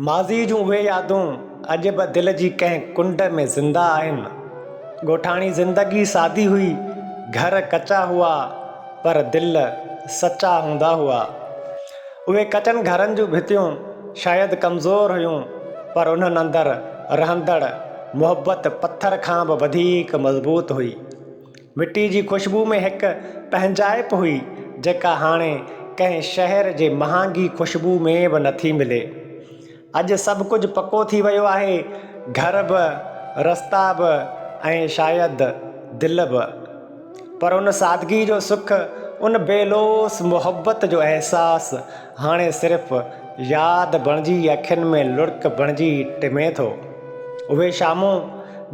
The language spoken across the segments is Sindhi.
ماضيء جون اهي يادون اڄ به دل جي ڪنهن ڪنڊ ۾ زنده آهن. ڳوٺاڻي زندگي سادي هئي، گهر ڪچا هئا پر دل سچا هوندا هئا. اهي ڪچن گهرن جون ڀتيون شايد ڪمزور هيون پر انهن اندر رهندڙ محبت پٿر کان به وڌيڪ مضبوط هئي. مٽي جي خوشبوء ۾ هڪ پنهنجائپ هئي، جيڪا هاڻي ڪنهن شهر جي مهانگي خوشبوء ۾ به نٿي ملي. اڄ سڀ ڪجهه پڪو ٿي ويو آهي، گهر به، رستا به ۽ شايد دل به. پر ان سادگي جو سک، ان بي لوث محبت جو احساس، هاڻي صرف ياد بڻجي اکين ۾ لڙڪ بڻجي ٽمي ٿو. اهي شامون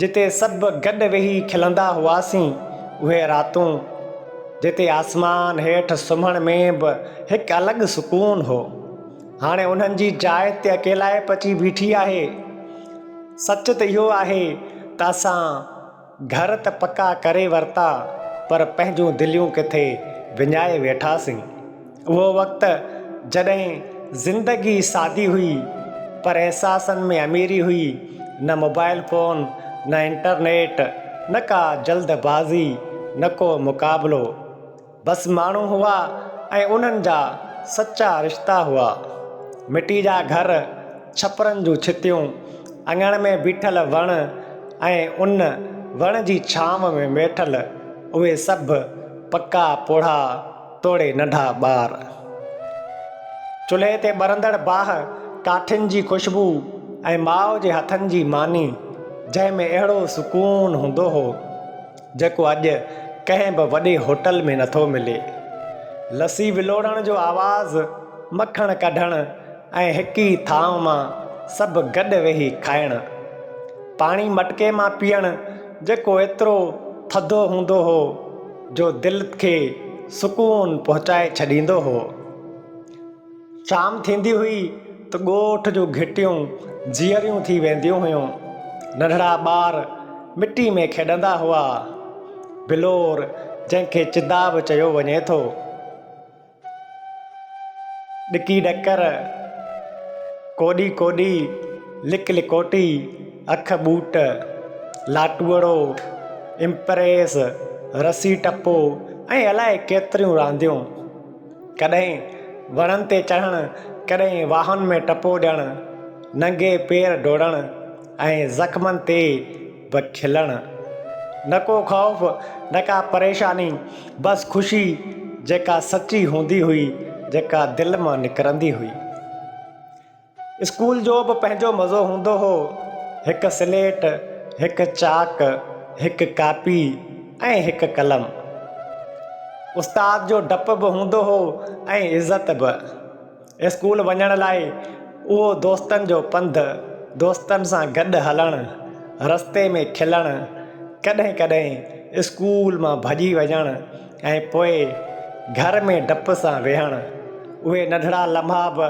جتي سڀ گڏ ويهي کلندا هئاسين، اهي راتون جتي آسمان هيٺ سمهڻ ۾ به هڪ الڳ سڪون هو، هاڻي انهن جي جاء تي اڪيلائپ اچي بيٺي آهي. سچ ته اهو آهي ته اسان. گهر ته پڪا ڪري ورتا پر پنهنجون دليون ڪٿي وڃائي ويٺاسين. اهو وقت جڏهن زندگي سادي هئي پر احساسن ۾ اميري هئي، نه موبائل فون، نه انٽرنيٽ، نه ڪا جلد بازي، نه ڪو مقابلو. بس ماڻهو هئا ۽ انهن جا سچا رشتا هئا. مٽي جا گهر، ڇپرن جون ڇتيون، اڱڻ ۾ بيٺل وڻ ۽ ان وڻ جي ڇانو ۾ ويٺل اهي سڀ پڪا پوڙها توڙي ننڍا ٻار. چلهي تي ٻرندڙ باهه، ڪاٺين جي خوشبو ۽ ماء جي هٿن جي ماني، جنهن ۾ اهڙو سڪون هوندو هو. جيڪو اڄ ڪنهن به وڏي هوٽل ۾ نٿو ملي. لسي ولوڙڻ جو آواز، مکڻ ڪڍڻ ۽ هڪ ئي ٿانء مان سڀ گڏ ويهي کائڻ. پاڻي مٽڪي مان پيئڻ جيڪو ايترو ٿڌو هوندو هو جو دل کي سڪون پهچائي ڇڏيندو هو. شام ٿيندي هئي ته ڳوٺ جون گهٽيون جيئريون ٿي وينديون هيون. ننڍڙا ٻار مٽي ۾ کيڏندا هئا. بلور جنهن کي چدا به چيو وڃي ٿو. ڏڪي ڏڪر، ڪوڏي ڪوڏي، لڪ لڪوٽي، اک ٻوٽ، لاٽوڙو، امپريس، رسي ٽپو ۽ الائي ڪيتريون رانديون. ڪڏهن وڻن تي چڙهڻ، ڪڏهن واهن ۾ ٽپو ڏيڻ، ننگي پير ڊوڙڻ ۽ زخمن تي به کلڻ. نه ڪو خوف، نه ڪا پريشاني، بس خوشي جيڪا سچي هوندي هئي، جيڪا دل مان نڪرندي هئي. اسڪول جو به پنهنجو مزو هوندو هو. هڪ سليٽ، هڪ چاڪ، هڪ ڪاپي ۽ هڪ قلم. استاد جو ڊپ به هوندو هو ۽ عزت به. اسڪول وڃڻ لاء اهو دوستن جو پنڌ، دوستن سان گڏ هلڻ، رستي ۾ کلڻ، ڪڏهن ڪڏهن اسڪول مان ڀڄي وڃڻ، ۽ پوء گهر ۾ ڊپ سان ويهڻ اهي ننڍڙا لمحا به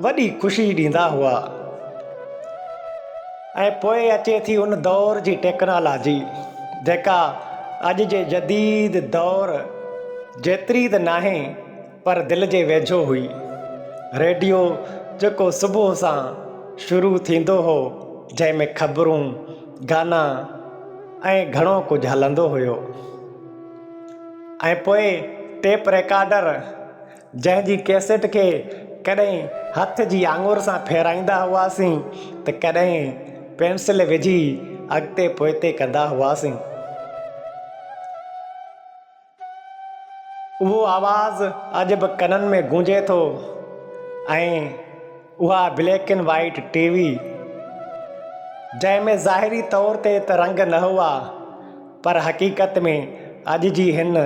وڏي خوشي ڏيندا هئا ۽ پوء اچي ٿي ان دور جي ٽيڪنالاجي جيڪا اڄ جي جديد دور جيتري ته ناهي پر دل جي ويجهو هئي ريڊيو جيڪو صبح سان شروع ٿيندو هو جنهن ۾ خبرون گانا ۽ گهڻو ڪجهه هلندو هيو ۽ پوء ٽيپ ريڪارڊر جنهن جي ڪيسٽ کي ڪڏهن هٿ جي آڱر سان ڦيرائيندا هئاسين ته ڪڏهن پينسل وجهي اڳتي پوئتي ڪندا هئاسين. اهو آواز اڄ به ڪنن ۾ گونجي ٿو ۽ اها black and white T V جنهن ۾ ظاهري طور تي ته رنگ نه هئا پر حقيقت ۾ اڄ جي هن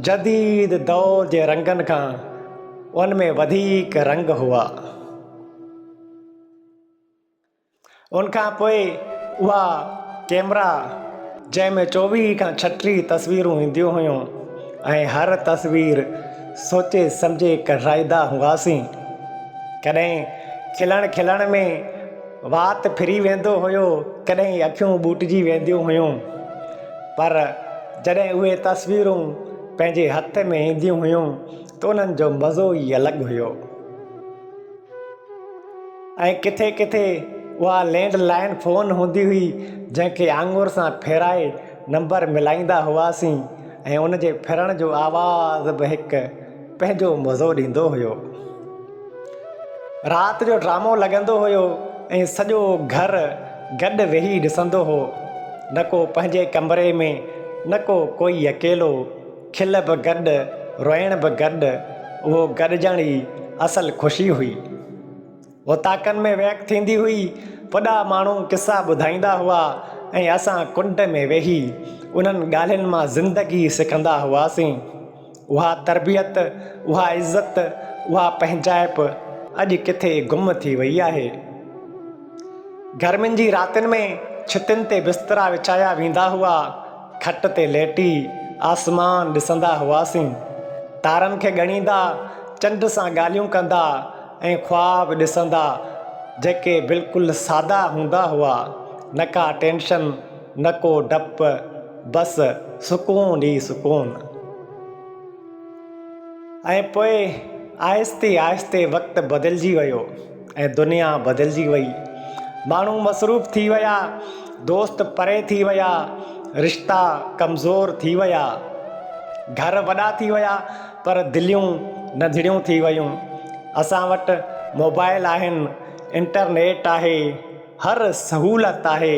جديد دور جي رنگن کان ان ۾ وڌيڪ رنگ هئا ان کان پوء اها ڪيمرا جنهن ۾ چوويهه کان ڇٽيهه تصويرون اينديون هيون ۽ هر تصوير سوچي سمجهي ڪڍرائيندا هئاسين ڪڏهن کلڻ کلڻ ۾ وات ڦري ويندو هيو ڪڏهن اکيون ٻوٽجي وينديون هيون پر جڏهن اهي تصويرون پنهنجي هٿ ۾ اينديون هيون ته انهن جو مزو ئي الڳ هيو ۽ ڪٿي ڪٿي اها لينڊ لائن فون هوندي هئي جنهن کي آڱر سان ڦيرائي نمبر ملائيندا هئاسين ۽ ان جي ڦرڻ جو آواز به هڪ پنهنجو مزو ڏيندو هيو رات جو ڊرامو لڳندو هيو ۽ سڄو گهر گڏ ويهي ڏسندو هو نه ڪو پنهنجي ڪمري ۾ نه ڪو ڪوئي اڪيلو کل به گڏ، روئڻ به گڏ، اهو گڏجڻ ئي اصل خوشي هئي. اوطاقن ۾ ويهڪ ٿيندي هئي، وڏا ماڻهو قصا ٻڌائيندا هئا ۽ اسان ڪنڊ ۾ ويهي انهن ڳالهين مان زندگي سکندا هئاسين. اها تربيت، اها عزت، اها پنهنجائپ اڄ ڪٿي گم ٿي وئي آهي. گرمين جي راتين ۾ ڇتين تي بسترا وڇايا ويندا هئا. کٽ تي ليٽي آسمان ڏسندا هئاسين، تارن کي ڳڻيندا، چنڊ سان ڳالهيون ڪندا ۽ خواب ڏسندا جيڪي بلڪل سادا هوندا هئا، نه ڪا ٽينشن نه ڪو ڊپ بس سڪون ئي سڪون. ۽ پوء آهستي آهستي وقت بدلجي ويو ۽ دنيا بدلجي وئي ماڻهو مصروف ٿي ويا دوست پري ٿي ويا رشتا ڪمزور ٿي ويا گهر وڏا ٿي ويا پر دليون ننڍڙيون ٿي ويون اسان وٽ موبائل آهن انٽرنيٽ آهي هر سهولت آهي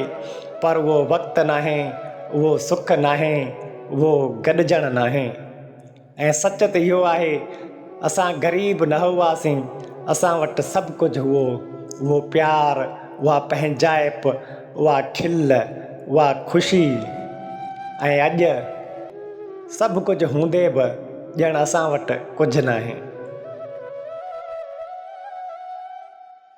پر اهو وقت ناهي، اهو سک ناهي، اهو گڏجڻ ناهي ۽ سچ ته اهو آهي اسان غريب نه هئاسين، اسان وٽ سڀ ڪجهه هئو، اهو پيار، اها پنهنجائپ، اها کل، اها خوشي ۽ اڄ سڀ ڪجهه هوندي به ڄڻ اسان وٽ ڪجهه ناهي.